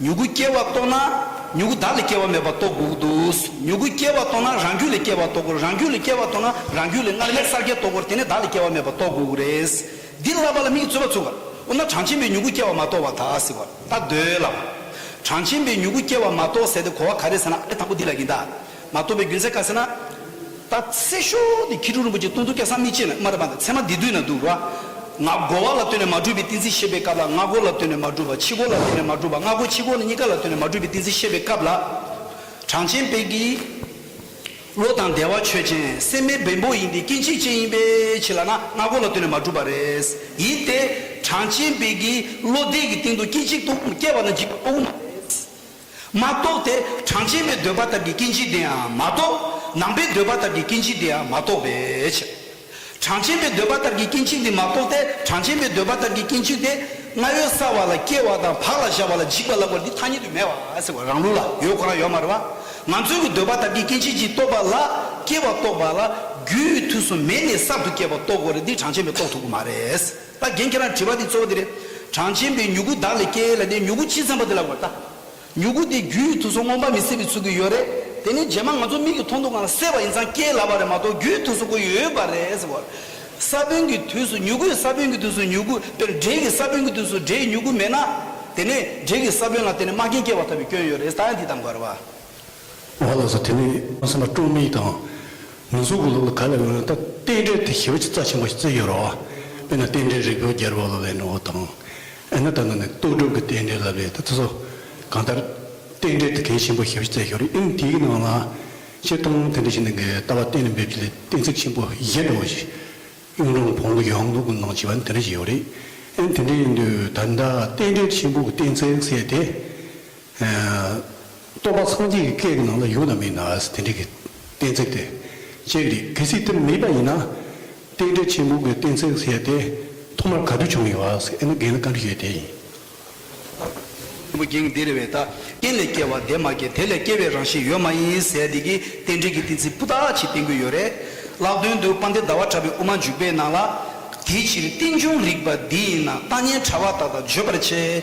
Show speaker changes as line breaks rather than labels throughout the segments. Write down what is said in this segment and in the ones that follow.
མྱུ་གུ་སྐྱེ་བ་རྟོགས་ན། མྱུ་གུ་བདག་ལས་སྐྱེ་བ་མེད་པ་རྟོགས་དགོས་འདུག་མྱུ་གུ་སྐྱེ་བ་རྟོགས་ན་རང་རྒྱུད་ལས་སྐྱེ་བ་རྟོགས་དགོས་རང་རྒྱུད་ལས་སྐྱེ་བ་རྟོགས་ན་རང་རྒྱུད་ལས་སྔར་མེད་གསར་སྐྱེ་རྟོགས་དགོས་དེ་ནས་བདག་ལས་སྐྱེ་བ་མེད་པ་རྟོགས་དགོས་རེད། འདི་བསླབ་པ་ལ་མིག་བཙུད་པ་བཙུད། འོ་ན་གྲངས་ཆེན་པོའི་མྱུ་གུ་སྐྱེ་བ་མ་རྟོགས་བ་དག་ཟེར་བ་ལྟ་འདོད་ལ། གྲངས་ཆེན་པོའི་མྱུ་གུ་སྐྱེ་བ་མ་རྟོགས་ཟེར་ཏེ་གོ་བ་ག་རེ་ཟེར་ན་ཨ་རེ་དང་པོ་འདི་ལ་ཡིན་ད། མ་རྟོགས་པའི་རྒྱུ་མཚན་ག་ཟེར་ན། ད་ཚེ་ཤོག་དེ་ཁྱི་ཕྲུག་རིན་པོ་ཆེ་སྟོང་དུ་སྐྱ་སངས་མི་ཅེས་ན་སྨྲ་རེད་པ་འདི་ཚད་མ་འདི་དུས་ན་འདུག་ང་སྒོ་བ་ལ་ལྟོས་ནས་མ་གྲུབ་པའི་ཏིང་འཛིན་བཤད་པའི་སྐབས་ལ་ང་སྒོ་ལ་ལྟོས་ནས་མ་གྲུབ་པ་ཁྱི་སྒོ་ལ་ལྟོས་ནས་མ་གྲུབ་པ་ང་སྒོ་ཁྱི་སྒོ་གཉིས་ཀ་ལ་ལྟོས་ནས་མ་གྲུབ་པའི་ཏིང་འཛིན་བཤད་པའི་སྐབས་ལ། གྲངས་ཅན་དཔལ་གྱི་བློ་དང་བདེ་བ་ཆོས་ཅན་སེམས་མའི་བེམ་པོ་ཡིན་ཏེ་སྐྱེ་འཇིག་ཅན་ཡིན་པའི་ཕྱིར་ལགས་ན་ང་སྒོ་ལ་ལྟོས་ནས་མ་གྲུབ་པ་རེད། ཡིན་ཏེ། གྲངས་ཅན་དཔལ་གྱི་བློ་བདེ་གི་སྟེང་དུ་སྐྱེ་འཇིག་ཏུ་སྐྱེ་བ་ན་འཇིག་པ་ལྟ་བུ་མ་རེད། མ་གཏོགས་ཏེ་གྲངས་ཅན་པའི་འདོད་པ་དག་གི་སྐྱེ་འཇིག་དེ་ཡང་མ་གཏོགས། ནང་པའི་འདོད་པ་དག་གི་སྐྱེ་འཇིག་དེ་ཡང་མ་གཏོགས་པས། གྲངས་ཅན་པའི་འདོད་པ་དག་གི་སྐྱེ་འཇིག་འདི་མ་གཏོགས་ཏེ་གྲངས་ཅན་པའི་འདོད་པ་དག་གི་སྐྱེ་འཇིག་དེ། སྔ་ཡོད་སྲ་བ་ལ་སྐྱེ་བ་དང་བག་ལ་བཞག་པ་ལ་འཇིག་པ་ལ་བར་འདི་ཐ་སྙད་དུ་མེད་བ་ཟེར་བ་རང་ལུགས་ལ་ཡོད་ཁོ་རང་ཡོད་མ་རེད་བ། ང་ཚོས་ཀྱི་འདོད་པ་དག་གི་སྐྱེ་འཇིག་ཅིག་རྟོགས་པ་ལ། སྐྱེ་བ་རྟོགས་པ་ལ་རྒྱུའི་དུས་སུ་མེད་ནས་གསར་དུ་སྐྱེ་བ་རྟོགས་དགོས་རེད་འདི་གྲངས་ཅན་པས་རྟོགས་ཐུབ་ཀྱི་མ་རེད། ལྟ། རྒན་ཁྱེད་རང་དྲི་བ་འདི་གཙོ་བོ་འདི་རེད། གྲངས་ཅན་པའི་མྱུ་གུ་བདག་ལས་སྐྱེ་ཡས་ལ་ནས་མྱུ་གུ་ཅི་འཚམས་པ་དེ་ལ་བར་ལྟ། མྱུ་གུ་དེ་རྒྱུ་ཡི་དུས་སུ་རྔོག་པ་མི་སྲིད་པའི་ཚུལ་གྱི་ཡོད་རེད། དེ་ནི་རྗེས་མ་ང་ཚོ་མིག་གི་མཐོང་ཐུག་ངང་ལ་སེལ་བ་ཡིན་ཙང་སྐྱེ་ལ་བ་རེད་མ་གཏོགས་རྒྱུ་ཡི་དུས་སུ་གོ་ཡོད་པ་རེད་ཟེར་བར། ས་བོན་གྱི་དུས་སུ་མྱུ་གུའི་ས་བོན་གྱི་དུས་སུ་མྱུ་གུ་དཔེར་འབྲས་ཀྱི་ས་བོན་གྱི་དུས་སུ་འབྲས་མྱུ་གུ་མེད་ན། དེ་ནས་འབྲས་ཀྱི་ས་བོན་ལ་བརྟེན་ནས་རྨ་རྒན་སྐྱེ་བ་ཐོབ་པའི་སྐྱོན་ཡོད་རེད་ད་ཡང་དེ་དང་འགལ་བ། ཨོ་ལགས་
སོ་དེ་ནི་སེམས་པ་དཀྲུགས་མིག་དང། མི་གཟུགས་ཀྱི་ལུགས་ལ་ག་ལ་འོན་ད་རྟེན་འབྲེལ་དེ་ཞི་བ་ཆེ་རྩ་ཆེན་པོ་ཞིག་བརྩི་ཡོད་རོགས་ཨ་དཔེ་ན་རྟེན་འབྲེལ་རིགས་པའོ་རྒྱལ་པོ་ལ་བས་ན་འོ་དང་ཨེ་ན་ད་ནི་ནི་རྟོགས་སྒྲུབ་ཀྱི་རྟེན་འབྲེལ་ལ་བས་ད་བརྩི་སོ་གང་ལྟར་རྟེན་འབྲེལ་དེ་གལ་ཆེན་པོ་ཞི་བ་བརྩི་ཞོར་ཨིན་དེའི་ནང་ལ་ཆེ་མཐོང་དེ་འདྲ་ཞིག་འདུག་གས་ལྟ་བ་གཏན་ནས་འབེབས་ཀྱི་ལས་གཏན་ཚིགས་ཆེན་པོ་གཞན་འདྲ་བོ་ཞིག་གཡུང་དྲུང་བོང་བུ་གཡང་ལུགས་ཀྱི་ནང་བྱིས་པ་འདི་འདྲ་ཞིག་ཡོད་རེད་ཨེ་དེ་འདྲ་ཡིན་དུས་ད་ལྟ་རྟེན་འབྲེལ་ཆེན་པོ་གྱི་གཏན་ཚིགས་བསལ་ཏེ། རྟོག་པ་སངས་རྒྱས་ཀྱི་སྐད་ཀྱི་ནང་ལ་ཡོད་ན་མེད་ན་དེ་འདྲའི་གི་གཏན་ཚིགས་དེ་ཅན་འདི་གལ་སྲིད་དེ་མེད་པ་ཡིན་ན། རྟེན་འབྲེལ་ཆེན་པོ་གི་གཏན་ཚིགས་ཟེར་དེ་ཐོག་མར་ག་དུས་བྱུང་ཡོད་ཨ་ཟེར་ཨེ་ན་རྒན་ལ་བཀའ་འདྲི་ཞུས་དེ་ཡིན། ཆེན་པོ་
རྒྱན་འདི་རེ་བའི་དག་རྟེན་ལས་སྐྱེ་བ་འདས་མ་སྐྱེས་དེ་ལས་སྐྱེ་བའི་རང་བཞིན་ཡོད་མ་ཡིན་ཟེར་དེ་གི་རྟེན་འབྲེལ་གྱི་གཏན་ཚིགས་སྤུ་དག་ཅིག་བསྟན་གྱི་ཡོད་རེད། ལག་དོན་དུ་པ་འདི་ཟླ་བ་གྲགས་པའི་དབུ་མ་འཇུག་པའི་ནང་ལ། དེའི་ཕྱིར་རྟེན་འབྱུང་རིགས་པ་འདི་ཡིན་ན་རྟགས་ངན་ཕྲ་བ་དག་དང་བརྗོད་པར་བྱའི།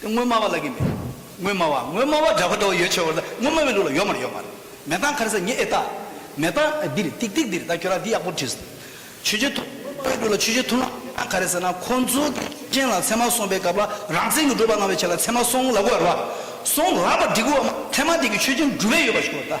དེ་དངོས་སྨྲ་བ་ལ་གི་མེད། དངོས་སྨྲ་བ་དངོས་སྨྲ་བ་འདྲ་བ་འདྲ་བ་ཡོད་ཆེ་བར་ལ་དངོས་སྨྲ་བའི་ལུགས་ལ་ཡོད་མར་ཡོད་མར། མེ་སྟག་མཁར་ཟ་ཉེ་ཨེ་སྟག། མེ་སྟག་འདིར་ཏིག་ཏིག་འདིར་ད་ཁྱོད་རང་འདི་ཡག་པོར་བྲིས་སོང། ཆོས་རྗེ་ཐུབ་དངོས་སྨྲ་བའི་ལུགས་ལ་ཆོས་རྗེ་ཐུབ་ལ་མེ་སྟག་མཁར་རེད་ཟེར་ན་ཁོ་ཚོ་གི་སྐྱོན་ཅན་ལ་མཚན་མ་སོང་པའི་སྐབས་ལ་རང་བཙན་གྱི་སྒྲུབ་པ་གནང་བའི་ཆེད་ལ་མཚན་མ་སོང་ལ་གོ་བར་བ། སོང་ལ་བར་འགྲིག་གོ་བ་མ་མཚན་མ་དེ་གི་ཆོས་ཅན་འགྲུབ་བས་ཡོད་པ་ཞིག་གོ་བར་བལྟ།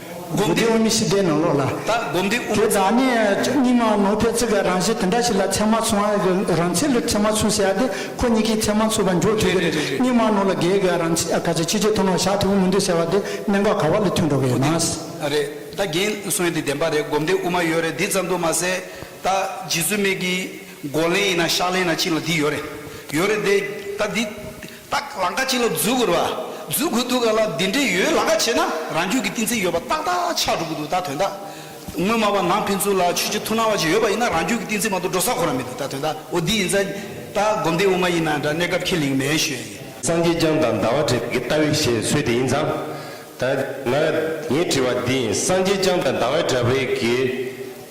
སྒོམ་བཟླས་དབུ་མའི་ཕྱི་བཟླས་ནང་ལོག་ལ། ད་སྒོམ་བཟླས་དབུ་མ། དེ་
དག་ནི་
རྙིང་མ་ནོར་བུའི་ཚིག་གི་རང་བཞིན་དེ་འདྲ་ཞིག་ལ་མཚན་མ་མཚུངས་ཨ་ཀི་རང་ཚིག་ལ་མཚན་མ་མཚུངས་ཞེས་ཏེ་ཁོ་གཉིས་ཀའི་མཚན་མ་མཚུངས་པ་འཇོག་དུས་དེར་རྙིང་མ་ནོར་ལ་བརྒལ་གི་རང་ཚིག་ཨ་ཀ་ཅིག་ཕྱི་ཆོས་ཐུན་མོང་ཞག་ཐུན་མོང་མི་འདུག་ཟེར་བ་དེ་གནད་འགག་ག་བ་ལ་ཐུག་འགྲོ་གི་ཡོད་ན། རེད་ད་རྒན་
གསོན་འདི་བདེན་པ་རེད་སྒོམ་བཟླས་དབུ་མ་ཡོད་རེད་འདི་ཙམ་དུ་མ་ཟད་ད་རྗེ་བཙུན་མེད་ཀི་མགོ་ལན་ཡིན་ན་ཤག་ལན་ན་ཅིག་ལ་འདི་ཡོད་རེད་ཡོད་རེད་དེ་ད་འདི་རྟགས་ལ་འགའ་ཅི་ལ་འཛུལ་དགོས་ར་བ་འཛུལ་དགོས་འདུག་ག་ལ་འདི་འདྲའི་ཡོད་ལ་འགའ་བྱས་ན་རང་རྒྱུད་ཀྱི་གཏིང་ཚད་ཡོད་པ་ཏག་ཏག་ཆགས་འགྲོ་གི་འདུག་ད་དོན་དག་ངོ་མ་བ་ནང་ཕན་ཚུན་ལ་ཆོས་ཆོས་ཐུགས་སྣང་བ་ཅིག་ཡོད་པ་ཡིན་ན་རང་རྒྱུད་ཀྱི་གཏིང་ཚད་མ་གཏོགས་འགྲོ་ས་གོ་ར་མི་འདུག་ད་དོན་དག་འོ་འདི་ཡིན་ཙང་ད་སྒོམ་སྡེ་དབུ་མ་ཡིན་ན་འདྲ་གནས་སྐབས་ཁས་ལེན་གི་མེད་ཞོད་ཡིན། སངས་རྒྱས་སྤྱང་དང་ཟླ་
བ་བྲེས་ཀྱི་ལྟ་བའི་བཤད་སྲོལ་དེ་ཡིན་ཙང་ད། ང་ངས་དྲི་བ་འདི་ཡིན་སངས་རྒྱས་སྤྱང་དང་ཟླ་བའི་འདྲ་བའི་གི།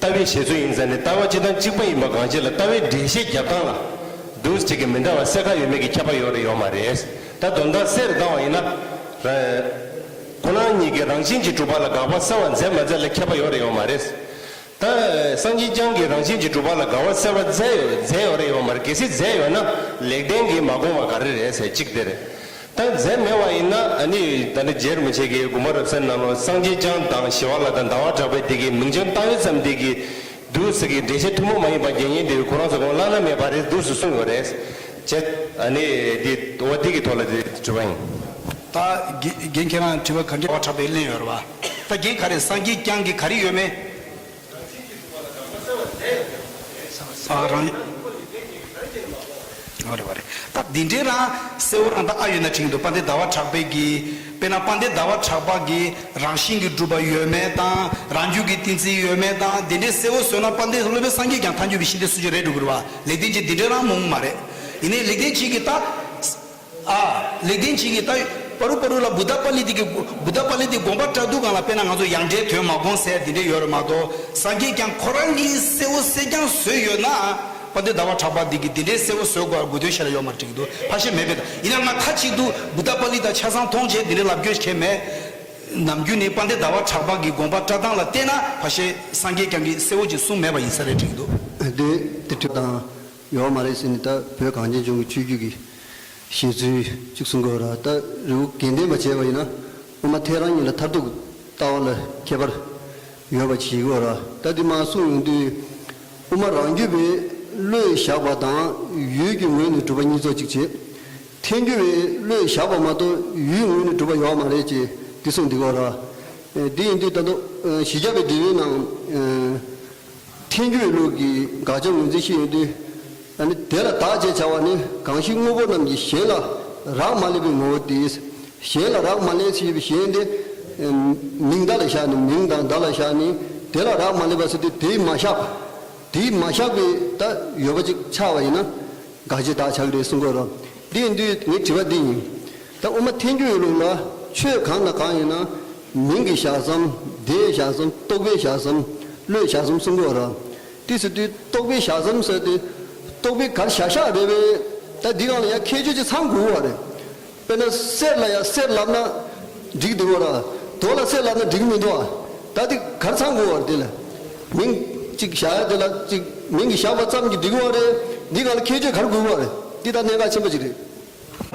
ལྟ་བའི་བཞེད་ཚུལ་ཡིན་ས་ནི་ལྟ་བ་གཅིག་དང་གཅིག་པ་ཡིན་པ་གང་ཅི་ལ་ལྟ་བའི་འགྲེལ་བཤད་རྒྱབ་སྟངས་ལ་འདུག་ཅིག་གི་མི་འདྲ་བ་གསལ་ཁ་ཡོད་མེད་ཀྱི་ཁྱབ་པ་ཡོད་རེ་ཡོད་མ་རེད། ད་སྡོམ་སྟངས་གསལ་རེ་བཏང་བ་ཡིན་ན། ཁོ་ན་ཉིད་ཀྱི་རང་བཞིན་གྱིས་གྲུབ་པ་ལ་དགག་པ་གསལ་བར་མཛད་མ་མཛད་ལ་ཁྱབ་པ་ཡོད་རེ་ཡོད་མ་རེད། ད་སངས་རྒྱས་བསྐྱངས་ཀྱི་རང་བཞིན་གྱིས་གྲུབ་པ་ལ་དགག་བ་གསལ་བར་མཛད་ཡོད་རེ་ཡོད་མ་རེད་གལ་སྲིད་མཛད་ཡོད་ན་ལེགས་ལྡན་གྱིས་མ་དགོངས་བ་ག་རེ་རེད་ཟེར་ཅིག་དེ་རེད། ཏང་རྫས་མེད་བ་ཡིན་ན་ནི་ད་ནི་རྗེར་མི་བྱེད་ཀི་དགུ་མ་རབ་སེམས་ནང་ལོ་སངས་རྒྱས་སྤྱང་དང་ཞི་བ་ལ་དང་ཟླ་བ་གྲགས་པའི་དེ་གི་མིང་བྱང་བཏགས་ཡོད་ཙམ་དེ་གི་འདུག་ཟེར་གི་འགྲེལ་བཤད་ཐུང་མོ་མ་ཡིན་པ་རྒྱན་རྙིང་དེ་ཁོ་རང་ཚོ་དགོངས་བླང་ན་མེད་པ་རེད་འདུག་ཟུ་གསུངས་ཡོད་རེད། བྱས། ཨ་ནི་དེ་འོ་དེ་གི་ཐོག་ལ་དེ་དྲི་བ་ཡིན། ད་
རྒན་ཁྱེད་རང་དྲི་བ་ག་འདྲི་བ་གྲགས་པས་གླེང་ཡོད་རེད་བ། ད་རྒན་ག་རེ་སངས་རྒྱས་སྤྱང་གི་ག་རེ་ཡོད་མེད། རྟགས་འདི་འདྲའི་རང་གསལ་བོ་རང་དང་ཨ་ཡོད་ན་ཁྲིགས་འདུག་པ་འདི་ཟླ་བ་གྲགས་པས་ཀྱིས་དཔེར་ན་པ་འདི་ཟླ་བ་གྲགས་པ་གྱིས་རང་བཞིན་གྱིས་གྲུབ་པ་ཡོད་མེད་དང་རང་རྒྱུད་ཀྱི་ཏིང་འཛིན་ཡོད་མེད་དང་འདི་འདྲའི་གསལ་བོ་བཟོས་ན་པ་འདི་སློབ་དཔོན་སངས་རྒྱས་ཀྱང་མཐའ་འགྱུར་བའི་ཤིང་རྟའི་སྲོལ་ཆེན་རེད་འགྲོ་དགོས་རེད་བ་ལེགས་ལྡན་གྱིས་འདི་འདྲའི་རང་མོངས་མ་རེད་ཡིན་ནའི་ལེགས་ལྡན་གྱིས་ཀྱི་ད། ཨ། ལེགས་ལྡན་འབྱེད་ཀྱི་རྟགས། པ་རུ་པ་རུ་ལ་བུདྡྷ་པཱ་ལི་ཏི་ཀི། བུདྡྷ་པཱ་ལི་ཏི་དགོངས་པ་བཀྲ་དུག་གང་ལ་དཔེ་ན་ང་ཚོ་ཡང་སྒྲའི་དོན་མ་དགོངས་ཟེར་དེ་འདྲས་ཡོད་རེད་མ་གཏོགས་སངས་རྒྱས་ཀྱང་ཁོ་རང་གིས་གསལ་བོ་གསལ་རྐྱང་བཟོས་ཡོད་ན། པ་འདི་ཟླ་བ་གྲགས་པ་འདི་གིས་དེ་འདྲས་གསལ་བོ་བཟོས་དགོས་དགོས་དོན་ཤེས་ར་ཡོད་མ་འགྲིག་འདུག་ཕ་ཤེས་མེད་པས་དང་ཡིན་ན་ང་མཐའ་གཅིག་ཏུ་བུདྡྷ་པཱ་ལི་དང་ཆ་ཚང་མཐོང་བྱས་དེ་འདྲས་ལབ་རྒྱུ་བྱས་མེད། ནམ་རྒྱུན་ནི་པ་འདི་ཟླ་བ་གྲགས་པ་གི་དགོངས་པ་བཀྲ་སྟངས་ལ་བལྟས་ན་ཕ་ཤེས་སངས་རྒྱས་ཀྱང་གིས་གསལ་བོ་ཅིག་གསུངས་མེད་པ་ཡིན་ས་རེད་འགྲིག་འདུག། དེ་དེ་དྲུག་
དང། ཡོད་པ་མ་རེད་ཟེར་ནས་ད་བོད་གངས་ཅན་ལྗོངས་ཀྱི་ཆོས་བརྒྱུད་ཀྱི་བཞེད་ཚུལ་གཅིག་གསུང་དགོས་ར་ད་རི་བོ་དགེ་ལྡན་པ་བྱས་པ་ཡིན་ན་སྔོན་མ་ཐལ་རང་ཉིད་ལ་མཐར་ཐུག་ལྟ་བ་ལ་ཁྱད་པར་ཡོད་པ་གྱིས་དགོས་ར་ད་དེ་མ་གསུང་ཡོང་དུས་དབུ་མ་རང་རྒྱུད་པའི་བློས་བཞག་པ་དང་ཡུལ་གྱི་ངོས་ནས་གྲུབ་པ་གཉིས་ཚོགས་གཅིག་བྱེད་ཐལ་འགྱུར་བའི་བློས་བཞག་པ་མ་གཏོགས་ཡུལ་ངོས་ནས་གྲུབ་པ་ཡོད་པ་མ་རེད་ཅེས་འདི་གསུང་འདི་དགོས་ར། དེ་ཡིན་དུས་ད་དུང་གཞི་རྒྱ་བའི་འབྲེལ་ཡོད་ནང། ཐལ་འགྱུར་ལུགས་ཀྱི་དགག་བྱ་ངོས་འཛིན་ཞིག་ཡིན་དུས། དེ་ལ་དག་ཅེས་བྱ་བ་ནི་གང་ཞིག་དངོས་པོ་རྣམས་ཀྱི་གཞན་ལ་རག་མ་སླེབ་པའི་ངོ་བོ་དེས་གཞན་ལ་རག་མ་སླེབ་ཟིན་པའི་གཞན་དེ། མིང་བརྡ་ལ་བཞག་ནས་མིང་དང་བརྡ་ལ་བཞག་ནས་དེ་ལ་རག་མ་སླེབ་པ་ཟིན་དུས་དེས་མ་བཞག་པ། དེས་མ་བཞག་པའི་ད་ཡོད་པ་ཅིག་ཆགས་པ་ཡིན་ན་དགག་བྱའི་དག་བྱ་གི་རེད་གསུང་དགོས་རོ། དེ་ཡིན་དུས་ངས་དྲི་བ་འདི་ཡིན། ད་དབུ་མ་ཐལ་འགྱུར་ཡོད་ལུགས་ལ་ཆོས་གང་དང་གང་ཡིན་ན་མིང་གི་ཞག་ཟམ་སྡེའི་ཞག་ཟམ་རྟོག་པའི་ཞག་ཟམ་བློའི་ཞག་ཟམ་གསུམ་གོ། ཏི་སི་ཏུས་རྟོག་པའི་ཞག་ཟམ་ཟེར་ཏེ། རྟོག་པའི་གར་ཞག་ཞག་རེད་བས། ད་འདི་གང་ལ་ཡང་ཁྱད་ཆོས་ཀྱི་ཚང་དགོས་བ་རེད། དཔེར་ན་གསེར་ལ་ཡང་གསེར་ལབ་ན་འགྲིག་འདུག་གོ། རྡོ་ལ་གསེར་ལབ་ན་འགྲིག་མི་འདུག་ག། ད་འདི་གར་ཚང་དགོས་བ་རེད་དེ་ལ། མིང་གཅིག་བཞག་ཡ་དེ་ལ་གཅིག་མིང་གི་བཞག་པ་ཙམ་གྱིས་འགྲིག་བ་རེད། འདི་གང་ལ་ཁྱད་ཆོས་གར་དགོས་བ་རེད། འདི་ད་གནད་འགག་ཆེན་པོ་ཅིག་རེད།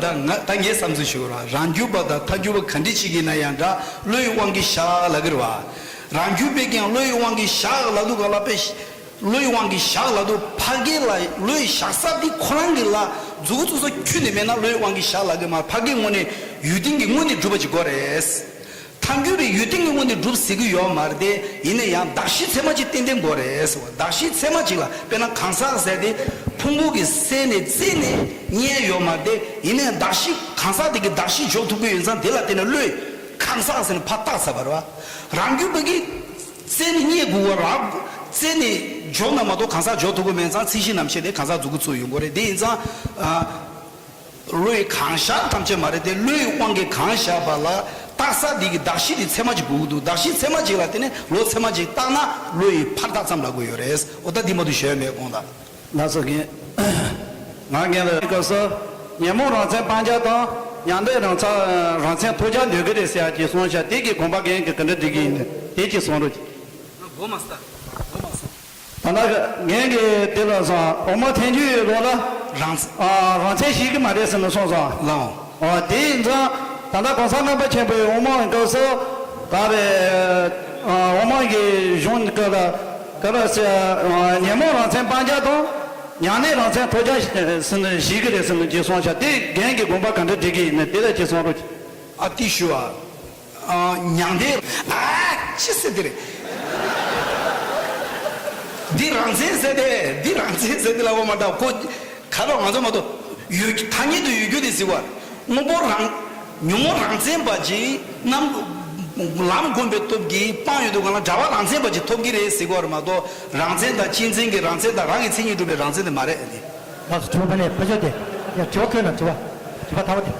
ད་ང་ད་
ངས་བསམ་ཚུལ་ཞིག་གོ་རང་རང་རྒྱུད་པ་དང་མཐའ་རྒྱུད་པ་ག་འདྲི་བྱེད་ཀྱིན་ན་ཡང་འདྲ་བློ་ཡི་དབང་གིས་ཞག་ལ་གིར་བ། རང་རྒྱུད་པས་ཀྱང་བློ་ཡི་དབང་གིས་ཞག་ལ་དུ་ག་ལ་པས་བློ་ཡི་དབང་གིས་ཞག་ལ་དུ་ཕ་གི་ལ་བློ་ཡི་ཞག་ས་དེ་ཁོ་རང་གི་ལ་རྫུ་གུ་ཚུ་ས་ཁྱུ་ནས་མེད་ན་བློ་ཡི་དབང་གིས་ཞག་ལ་གི་མར་ཕ་གི་སྔོ་ནས་ཡུལ་དིང་གི་སྔོ་ནས་སྒྲུབ་པ་ཅིག་གོ་རེད། མཐའ་འགྱུར་བའི་ཡུལ་ཏིང་ངེ་དངོས་ནས་སྒྲུབ་ཟེར་གྱི་ཡོད་མ་རེད་དེ། ཡིན་ན་ཡང་གདགས་གཞི་ཚད་མ་གཅིག་ཏན་ཏན་དགོས་རེད་ཟེར་བ་གདགས་གཞི་ཚད་མ་གཅིག་ལ་དཔེར་ན་གང་ཟག་ཟེར་དེ། ཕུང་པོ་གི་གསལ་ནས་རྩིས་ནས་རྙེད་ཡོད་མ་རེད་དེ། ཡིན་ན་ཡང་གདགས་གཞི་གང་ཟག་དེ་གི་གདགས་གཞི་འཇོག་ཐུབ་གི་ཡོད་ཙང་དེ་ལ་བརྟེན་ནས་བློས། གང་ཟག་ཟེར་ནས་ཕ་རྟགས་ཟེར་བ་རེད་བ། རང་རྒྱུད་པ་གིས། རྩལ་ནས་རྙེད་དགོས་བ་རག། རྩལ་ནས་འཇོག་ན་མ་གཏོགས་གང་ཟག་འཇོག་ཐུབ་གི་མེད་ཙང་ཚིག་གཞི་རྣམས་བཤད་དེ་གང་ཟག་འཛུགས་དགོས་ཚུལ་ཡོད་མགོ་རེད་དེ་ཡིན་ཙང། བློ་ཡི་གང་བཞག་ཐམས་ཅད་མ་རེད་དེ་བློའི་དབང་གིས་གང་བཞག་པ་ལ་བཏགས་ས་དེ་གི་གདགས་གཞི་དེ་ཚད་མ་གཅིག་དགོས་ཀྱི་འདུག་གདགས་གཞི་ཚད་མ་གཅིག་ལ་དེ་ནས་བློ་ཚད་མ་གཅིག་བཏགས་ན་བློ་ཡི་ཕར་ཐག་ཙམ་ལ་དགོས་ཡོད་རེད་འོ་ད་འདི་མ་ཏུ་ཞོལ་མེད་དགོངས་དག། ན་ཚ་རྒན།
ང་རྒན་ལ་སྐབས་སུ། ཉོན་མོངས་རང་མཚན་སྤང་བྱ་དང། མྱང་འདས་རང་ཚ། རང་མཚན་ཐོས་བྱ་འདོད་གི་རེད་ཟེར་གྱིས་སོང་ཤག་དེ་གི་དགོངས་པ་རྒན་གི་ག་འདྲ་འགྲིག་གི་ཡིན། དེ་གྱིས་
སོང་རོ། ང་མགོ་མ་ས། མགོ་མ་སོང། ད་
ནག་ངན་གྱི་དེ་ལ་བཟང་འོ་མ་ཐན་རྒྱུ་ཡོད་ལོག་ལ།
རང། རང་བཙན་ཞིག་གི་མ་རེད་
ཟེར་ནས་སོང་སོང། ལང།
ཨོ་དེ་ཡིན་ཙང་ད་ནག་གོང་ས་རྣམ་པ་ཆེན་པོའི་དབུ་མ་འོན་སྐབས་སུ། ད་རེ།
དབུ་མ་གི་གཞུང་འདི་སྐབས་ལ། ག་ར་སེ། ཉན་མོངས་རང་བཙན་སྤང་རྒྱ་དང། མྱང་གནས་རང་བཙན་ཐོབ་རྒྱ། ཟེར་ནས་ཞིག་གི་རེད་ཟེར་ནས་ཇེ་
སོང་བྱ་དེ་རྒན་གྱི་དགོངས་པ་ག་འདྲ་འགྲིག་གི་ཡིན་ནི་དེ་ལ་ཇེ་སོང་རོ། ཨ་ཏི་ཞུ་ཨ། མྱང་འདས། ཅི་ཟེར་འདི་རེད། འདི་རང་བཙན་ཟེར་ཏེ་འདི་རང་བཙན་ཟེར་ཏེ་ལབ་པ་མ་གཏོགས་ཁོ་ག་པར་ང་ཚོ་མ་གཏོགས་ཡོད་རྒྱུ་ཐ་སྙད་དུ་ཡོད་རྒྱུ་དེ་ཟེར་བ་དངོས་པོ་རང་ཉོན་མོངས་རང་བཙན་པ་ཅིག་རྣམ་ལམ་སྒོམ་པའི་སྟོབས་ཀྱིས་སྤངས་ཡོད་འདུག་གང་ལ་འདྲ་བ་རང་བཙན་པ་ཅིག་ཐོབ་ཀྱི་རེད་ཟེར་བ་མ་གཏོགས་རང་བཙན་དང་སྤྱི་མཚན་གྱི་རང་བཙན་དང་རང་གི་མཚན་ཉིད་སྒྲུབ་པའི་རང་བཙན་དེ་མ་རེད། ལགས་སོ་དྲི་བ་ཕ་
ལས་ཕ་ཞོག་དེ་ཡང་དྲི་བ་ཁོད་ན་དྲི་བ་དྲི་བ་ཐ་བ་དེ།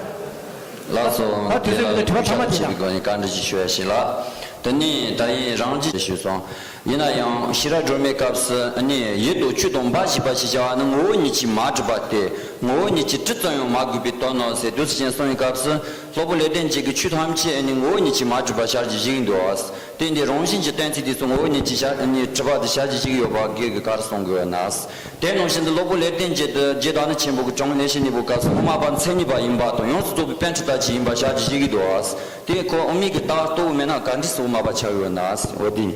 ལགས་སོ། དེ་ལ་ལུས་པོ་ཤ་དང་བྱེད་པའི་སྒོ་ནས་བཀའ་འདྲི་ཞིག་ཞུ་ཡ་ཞིག་ལགས། དེ་ནས་ད་ཡིན་རང་གཅེས་ཞུས་སོང། ཡིན་ན་ཡང་ཤི་ར་སྒྲོལ་མའི་སྐབས་སུ་ནི་ཡུལ་དུ་ཆུ་
དང་འབའ་ཞིག་པ་ཞེས་བྱ་བ་ནི་ངོ་བོ་ཉིད་ཀྱིས་མ་གྲུབ་པ་སྟེ་ངོ་བོ་ཉིད་ཀྱིས་ཏྲི་ཙམ་ཡང་མ་གུས་པའི་དོན་ནོ་ཟེར་དུས་གཞན་སོང་བའི་སྐབས་སུ་སློབ་བུ་ལས་ལྡན་གཅིག་གིས་ཆུ་ཐམས་ཅད་ནི་ངོ་བོ་ཉིད་ཀྱིས་མ་གྲུབ་པ་ཤར་གྱི་བཞི་ཡིན་འདུག་བརྟེན་དེ་རང་བཞིན་གྱི་གཏན་ཚིགས་དེ་སུ་ངོ་བོ་ཉིད་ཀྱིས་ཤར་ནི་གྲུབ་པ་དེ་ཤར་གྱི་བཞི་ཡོད་པ་སྒེར་གྱི་ཁར་གསུང་དགོས་ན། དེ་ནང་བཞིན་དུ་སློབ་བུ་ལེགས་ལྡན་འབྱེད་དུ་རྗེས་དྲག་ནི་ཆེན་པོ་དགུ་འབྱུང་ལས་བྱེད་གཉིས་པོ་སྐབས་སུ་དབུ་མ་པ་མཚན་
ཉིད་པ་ཡིན་པ་དང་ཡོངས་སུ་རྫོགས་པའི་དཔལ་ཆུ་ཟླ་གཅིག་ཡིན་པར་ཞལ་གྱིས་བཞེས་ཀྱི་འདུག་ཨ། དེའི་འཁོར་དབུ་མེད་ཀྱི་རྟགས་གཙོ་བོ་མེད་ན་གར་འགྲིས་སུ་དབུ་མ་པ་ཆགས་ཡོད་ན་འོ་དེ།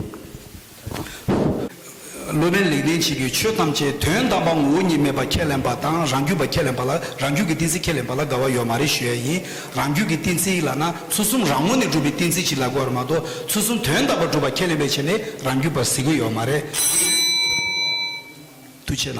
སློབ་དཔོན་ལེགས་ལྡན་འབྱེད་ཀྱིས་ཆོས་ཐམས་ཅད་དོན་དམ་པ་ངོ་བོ་ཉིད་མེད་པ་ཁས་ལེན་པ་དང་རང་རྒྱུད་པ་ཁས་ལེན་པ་ལ་རང་རྒྱུད་ཀྱི་ཏིང་འཛིན་ཁས་ལེན་པ་ལ་དགའ་བ་ཡོད་མ་རེད་ཞུ་ཡ་ཡིན། རང་རྒྱུད་ཀྱི་གཏན་ཚིགས་ལགས་ན་ཚུལ་གསུམ་རང་ངོ་ནས་གྲུབ་པའི་གཏན་ཚིགས་ཤིག་ལ་གོ་བར་མ་གཏོགས་ཚུལ་གསུམ་དོན་དམ་པར་གྲུབ་པར་ཁས་ལེན་པའི་ཆེད་ལས་རང་རྒྱུད་པར་གཟིགས་དགོས་ཡོད་མ་རེད། དུ་བྱས་ན།